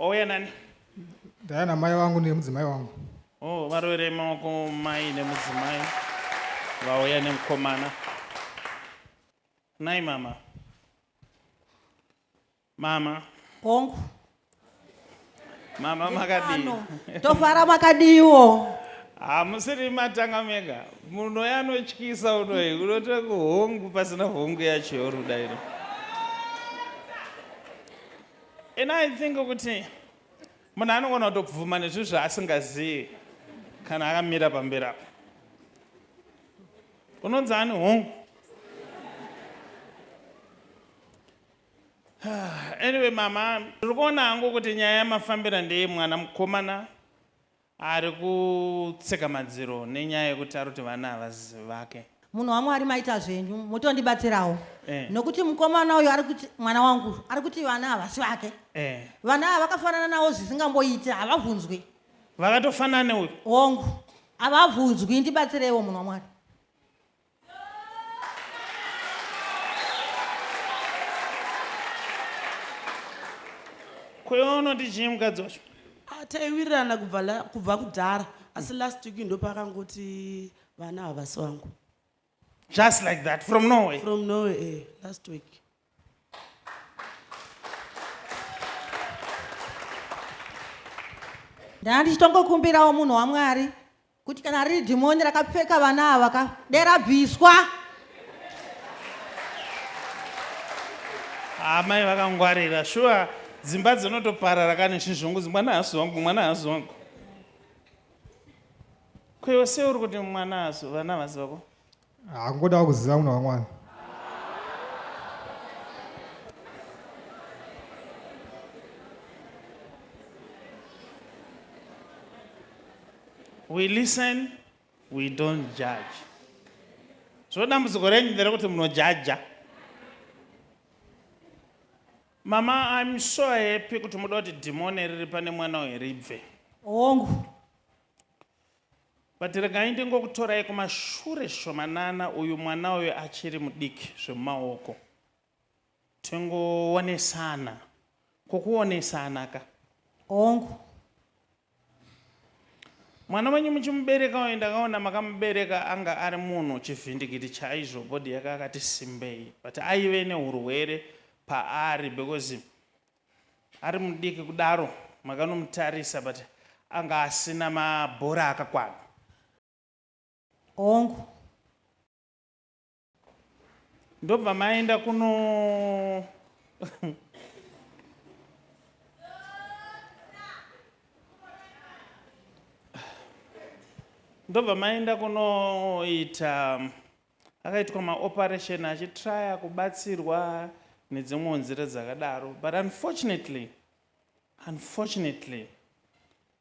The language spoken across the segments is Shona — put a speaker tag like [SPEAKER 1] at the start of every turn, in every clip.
[SPEAKER 1] Ouya nani? Ndaya
[SPEAKER 2] namai vangu nemudzimai wangu. Oh, varovere
[SPEAKER 1] maoko mai nemudzimai vauya nemukomana. Nai mama. Mama. Hongu. Mama makadii? Tofara
[SPEAKER 3] makadiiwo. Hamusiri
[SPEAKER 1] matanga mega. Munhu uya anotyisa unoyi unotora kuhongu pasina hongu yacho yoruda iro. And I think kuti munhu anogona kutobvuma nezvinhu zvaasingazivi kana akamira pamberi apo unonzi ani hongu anyway mama ndiri kuona hangu kuti nyaya yamafambira ndeye mwana mukomana Ari kutseka madziro nenyaya yekuti ari kuti vana havazi vake. Munhu waMwari maita
[SPEAKER 3] zvenyu motondibatsirawo eh. Nokuti mukomana uyu ari kuti mwana wangu ari kuti vana havasi vake eh. Vana ava vakafanana nawo zvisingamboiti havabvunzwi vakatofanana
[SPEAKER 1] neuyu hongu
[SPEAKER 3] havabvunzwi ndibatsireiwo munhu waMwari
[SPEAKER 1] kweono ndichii mukadzi wacho Ah, taiwirirana
[SPEAKER 4] kubva la- kubva kudhara asi last week ndopakangoti vana havasi vangu just
[SPEAKER 1] like that from norway from norway eh,
[SPEAKER 4] last week
[SPEAKER 3] ndanga ndichitongokumbirawo munhu wamwari kuti kana riri dhimoni rakapfeka vana ava ka derabviswa
[SPEAKER 1] amai vakangwarira shuwa dzimba dzinotoparara kane chizvungu mwana haasi wangu mwana haasi wangu kwewe se uri kuti mwana haasi vana havasi vako Hakungodawo
[SPEAKER 2] kuziva munhu wamwana.
[SPEAKER 1] We listen, we don't judge. So dambudziko renyu nderekuti munojaja. Mama, I'm so happy kuti muda kuti dhimoni riri pane mwana uyu ribve. Hongu. But regai ndingokutorai kumashure shomanana uyu mwana uyu achiri mudiki zvemumaoko. Tingoonesana. Ko kuonesana ka? Hongu. Mwana wenyu muchimubereka uyu ndakaona makamubereka anga ari munhu chivhindikiti chaizvo body yake akati simbei but aive nehurwere paari because Ari mudiki kudaro makanomutarisa but anga asina mabhora akakwana.
[SPEAKER 3] Hongu.
[SPEAKER 1] Ndobva maenda kuno ndobva maenda kunoita akaitwa maoperation achitraya kubatsirwa nedzimwewo nzira dzakadaro but unfortunately unfortunately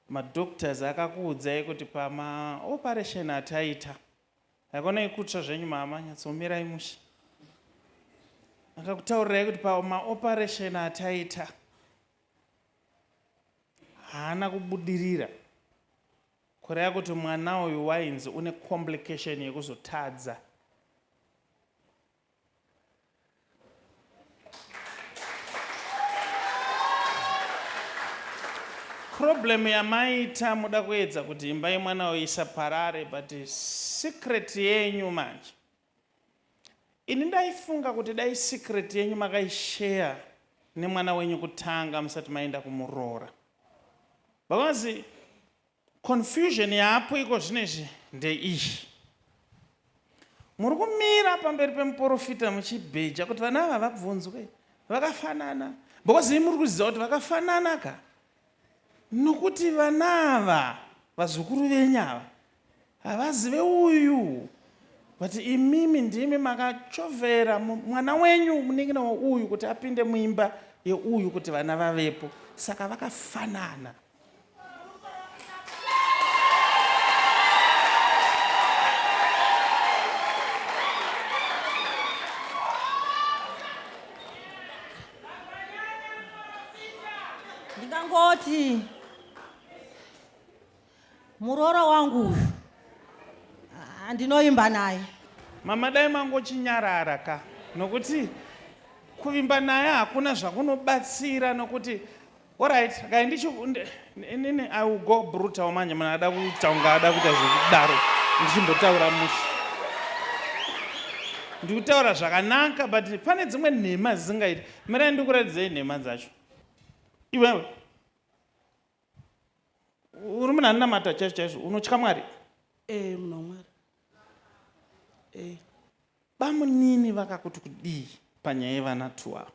[SPEAKER 1] madoctors akakuudzai kuti pamaoperation ataita haikona ikutsva zvenyu mama nyatsomirai mushe akakutaurirai kuti pamaoperation ataita haana kubudirira Kureva kuti mwana uyu wainzi une complication yekuzotadza. Problem yamaita muda kuedza kuti imba yemwana uyu isaparare but secret yenyu manje Ini ndaifunga kuti dai secret yenyu makaishare nemwana wenyu kutanga musati maenda kumuroora because confusion yaapo iko zvino izvi ndeiyi. Muri kumira pamberi pemuporofita muchibheja kuti vana ava vabvunzwe vakafanana because imi muri kuziva kuti vakafanana ka nokuti vana ava vazukuru venyu ava havazive uyu but imimi ndimi makachovera mwana wenyu munin'ina weuyu kuti apinde muimba yeuyu kuti vana vavepo saka vakafanana
[SPEAKER 3] ndingangoti muroora wangu uyu ah, ndinoimba naye mama dai
[SPEAKER 1] mangochinyarara ka nokuti kuvimba naye hakuna zvakunobatsira nokuti Alright, kai ndicho nene I will go brutal manje munhu ada kuita unga ada kuita zvekudaro ndichimbotaura mushe. Ndikutaura zvakanaka but pane dzimwe nhema dzisingaiti. Mirai ndikuratidzei nhema dzacho. Iwewe. Uri munhu anonamata chaizvo chaizvo unotya Mwari? Eh, munhu
[SPEAKER 4] waMwari. Hey.
[SPEAKER 1] Bamunini vakakuti kudii panyaya yevana two ava?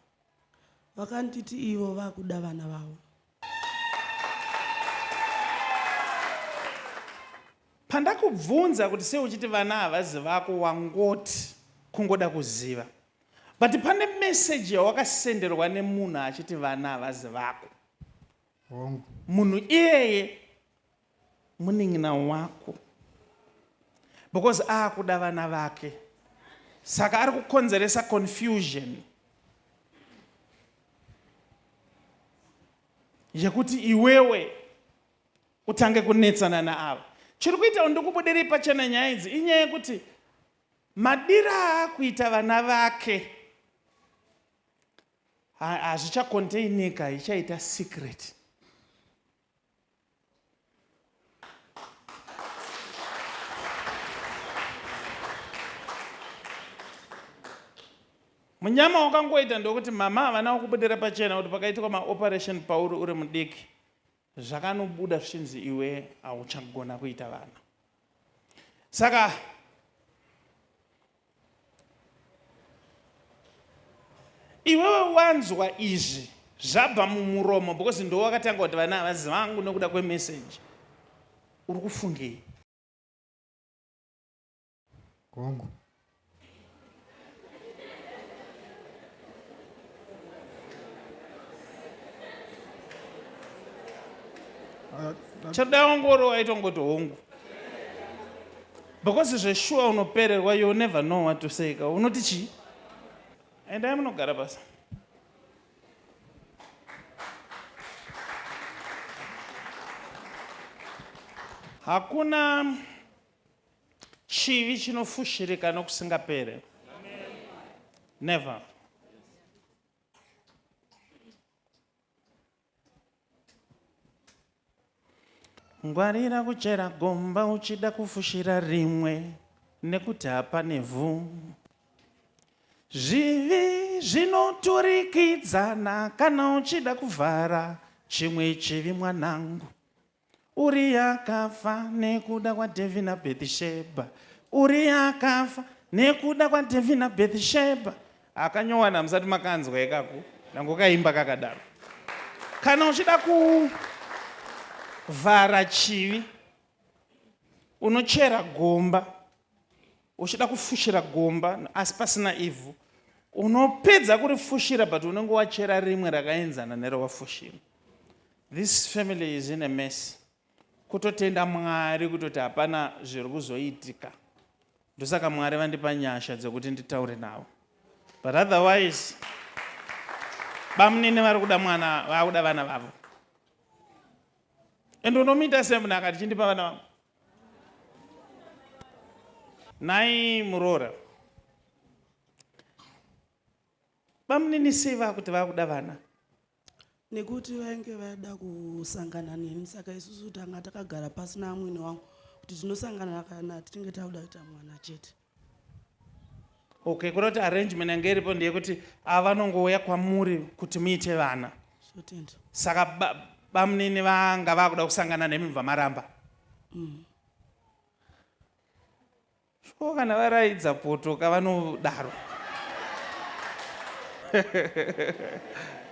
[SPEAKER 1] Vakanditi
[SPEAKER 4] ivo vakuda vana vavo.
[SPEAKER 1] Pandakubvunza kuti sei uchiti vana havazi vako wangoti kungoda kuziva. But pane message yawakasenderwa nemunhu achiti vana havazi vako. Hongu. Munhu iyeye munin'ina wako because akuda vana vake saka ari kukonzeresa confusion yekuti iwewe utange kunetsana naava chiri kuitawo ndikubudirei pachena nyaya idzi inyaya yekuti madira aakuita vana vake hazvichakontainika ichaita secret munyama wakangoita ndokuti mama havana kukubudira pachena kuti pakaitikwa maoperation pauri uri mudiki zvakanobuda zvichinzi iwe hauchagona kuita vana saka iwewe wanzwa izvi zvabva mumuromo because ndo wakatanga kuti vana havazi vangu nokuda kwemeseji uri kufungei
[SPEAKER 2] kwangu
[SPEAKER 1] chadawongoro waitongoti hongu Because zveshuwa unopererwa you never know what to say ka unoti chii? Endai munogara basa. Hakuna chivi chinofushirika nokusingapere. Never. Ngwarira kuchera gomba uchida kufushira rimwe nekuti hapane vhu. Zvivi zvinoturikidzana kana uchida kuvhara chimwe chivi mwanangu. Uria akafa nekuda kwaDhavhidhi naBhethishebha. Uria akafa nekuda kwaDhavhidhi naBhethishebha. Akanyowana hamusati makanzwa ikaku nango kaimba kakadaro. Kana uchida kuvhara chivi unochera gomba uchida kufushira gomba asi pasina ivhu unopedza kurifushira but unenge wachera rimwe rakaenzana nerowafushira this family is in a mess kutotenda mwari kutoti hapana zviri kuzoitika ndosaka mwari vandipa nyasha dzekuti nditaure navo but otherwise bamunini vari kuda mwana vakuda vana vavo ende unomuita semunhu akati chindipa vana vavo Nhai muroora, bamunini sei vakuti vakuda vana? nekuti
[SPEAKER 4] vainge vaida kusangana neni saka isusu tanga takagara pasi naamwene wangu kuti tinosangana kana tichinge takuda kuita mwana chete
[SPEAKER 1] okay kuda kuti arrangement yange iripo ndeyekuti ava vanongouya kwamuri kuti muite vana
[SPEAKER 4] saka
[SPEAKER 1] bamunini vanga vakuda kusangana nemi mubva maramba mm. shuwo kana varaidza poto kavanodaro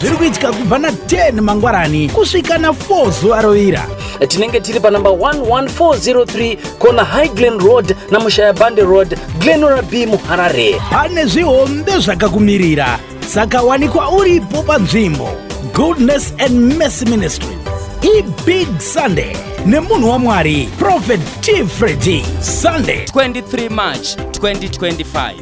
[SPEAKER 5] zviri kuitika
[SPEAKER 6] kubva na10 mangwarani kusvika na4 zuva rovira tinenge tiri panumber
[SPEAKER 7] 11403 kona high glen road namushayabande road glenora b muharare pane zvihombe
[SPEAKER 6] zvakakumirira saka wanikwa uripo panzvimbo goodness and mercy ministry ibig sunday nemunhu wamwari prophet t fredi sunday 23 march
[SPEAKER 5] 2025